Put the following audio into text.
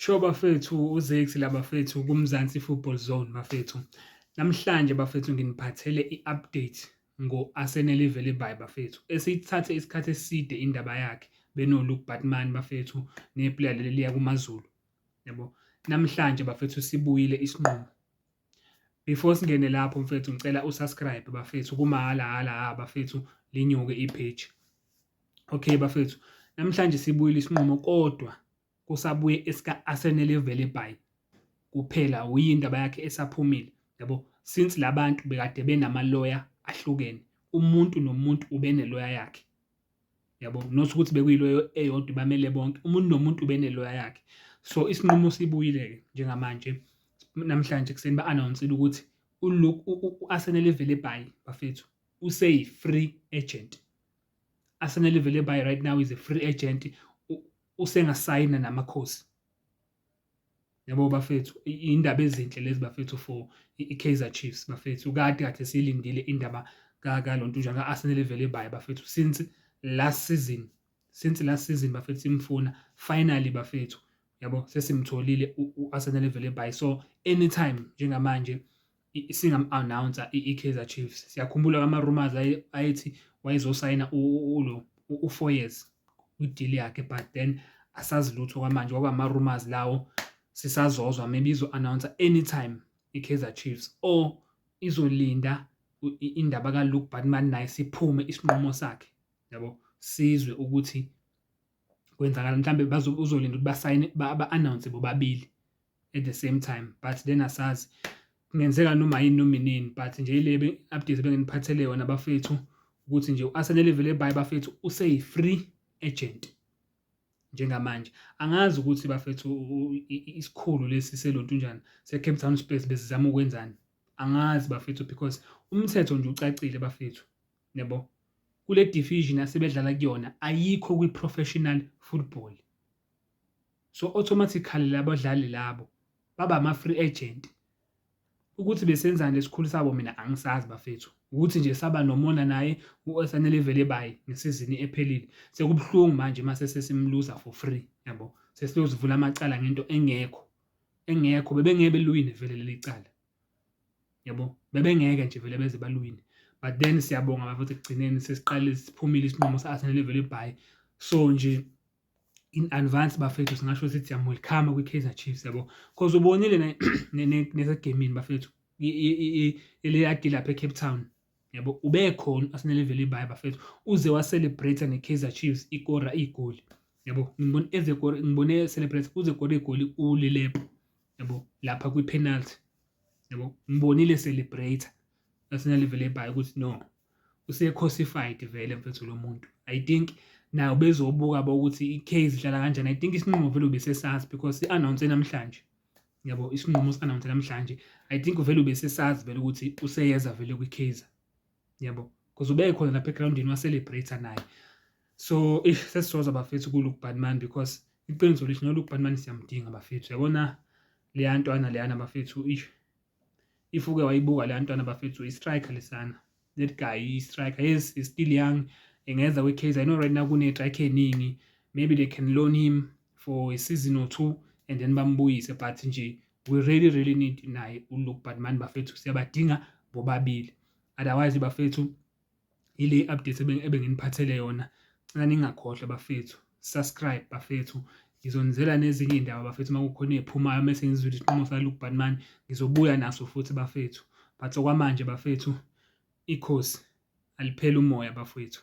Sho bafethu uZex la bafethu kuMzansi Football Zone bafethu. Namhlanje bafethu nginiphathele i-update ngo-Arsenal ivele by bafethu. Esithathe isikhathi eside indaba yakhe benoLuke Batman bafethu neplayer leli liya kuMaZulu. Yabo. Namhlanje bafethu sibuyile isinqumo. Before singene lapho mfethu ngicela usubscribe bafethu kumahhala hala ha bafethu linyuke i-page. Okay bafethu, namhlanje sibuyile isinqumo kodwa kusabuye esika Arsenal Velebay kuphela uyindaba yakhe esaphumile yabo since labantu bekade benamaloya ahlukene umuntu nomuntu ubeneloya yakhe. yabo not ukuthi bekuyilo eyodwa ibamele bonke umuntu nomuntu ubeneloya yakhe so isinqumo sibuyile-ke njengamanje namhlanje ekuseni ba-anawunsile ukuthi u-arsenal ivele ebhayi bafethu useyi-free agent arsenal ivele ebhayi right now is a free agent usengasayina namakhosi Yabo bafethu indaba ezinhle lezi bafethu for iKaizer Chiefs bafethu kade kade silindile indaba kaLontujana ka-Arsenal evele baye bafethu since last season since last season bafethu simfuna finally bafethu yabo sesimtholile u-Arsenal evele baye so anytime njengamanje singam-announcer i-Kaizer Chiefs siyakhumbula ama-rumors ayethi wayezosayina ulo u-four years kwi-deal yakhe but then asazi lutho kwamanje kwaba ama-rumors lawo sisazozwa maybe izo-announcer anytime i-Kaizer Chiefs or izolinda indaba kaLuke Batman naye siphume isinqumo sakhe yabo sizwe ukuthi kwenzakala mhlambe uzolinda ukuthi basayine ba-announce bobabili at the same time but then asazi kungenzeka noma yini noma inini but nje ile update benginiphathele yona bafethu ukuthi nje u-Arsenal evele ebaye bafethu useyi-free agent njengamanje angazi ukuthi bafethu isikhulu lesi selontunjana se-Cape Town Spurs besizama ukwenzani angazi bafethu because umthetho nje ucacile bafethu yebo kule division asebedlala kuyona ayikho kwi-professional football so automatically labadlali labo baba ama free agent ukuthi besenzani lesikhulu sabo mina angisazi bafethu ukuthi nje saba nomona naye uSanele vele bayi ngesizini ephelile sekubuhlungu manje mase sesimluza for free yabo sesiyozivula amacala ngento engekho engekho bebengeke belwine vele leli cala yabo bebengeke nje vele beze balwine but then siyabonga bafethu ekugcineni sesiqale siphumile isinqumo sa-arsenal evele ibhayi so nje in advance bafethu singasho sithi I'm welcome kwi-Kaizer Chiefs yabo because ubonile nesegemini bafethu eleyadi lapha eCape Town yabo ubekhona asinelevel ibaye bafethu uze wacelebrate ne-Kaizer Chiefs ikora igoli yabo ngibona eze kora ngibone celebrate uze kora igoli ulilepo yabo lapha kwi-penalty yabo ngibonile celebrate asinelevel ebaye ukuthi no use cosified vele mfethu lo muntu i think nayo bezobuka bokuthi i-case idlala kanjani i think isinqumo vele ubesesazi because i-announce namhlanje yabo isinqumo si-announce namhlanje i think vele ubesesazi vele ukuthi useyeza vele kwi-case yabo because ubekhona lapha egroundini wa-celebrate naye so ish sesisoza bafethu ku-luke badman because iqiniso lithi no-luke badman siyamdinga bafethu yabona leya ntwana leyana bafethu ish if uke wayibuka le yantwana bafethu i-striker lesana that guy i-striker yes is still young engeza kwi-case i know right now kune-striker eningi maybe they can loan him for a season or two and then bambuyise but nje we really really need naye uluke but mani bafethu siyabadinga bobabili otherwise bafethu Ile update ebenginiphathele yona. Ngicela ningakhohlwa bafethu. Subscribe bafethu. Ngizonizela nezinye iy'ndaba bafethu uma kukhona ey'phumayo uma sengizwile isiqomo sikaLuke Banman ngizobuya naso futhi bafethu. But okwamanje bafethu ikhosi alipheli umoya bafethu.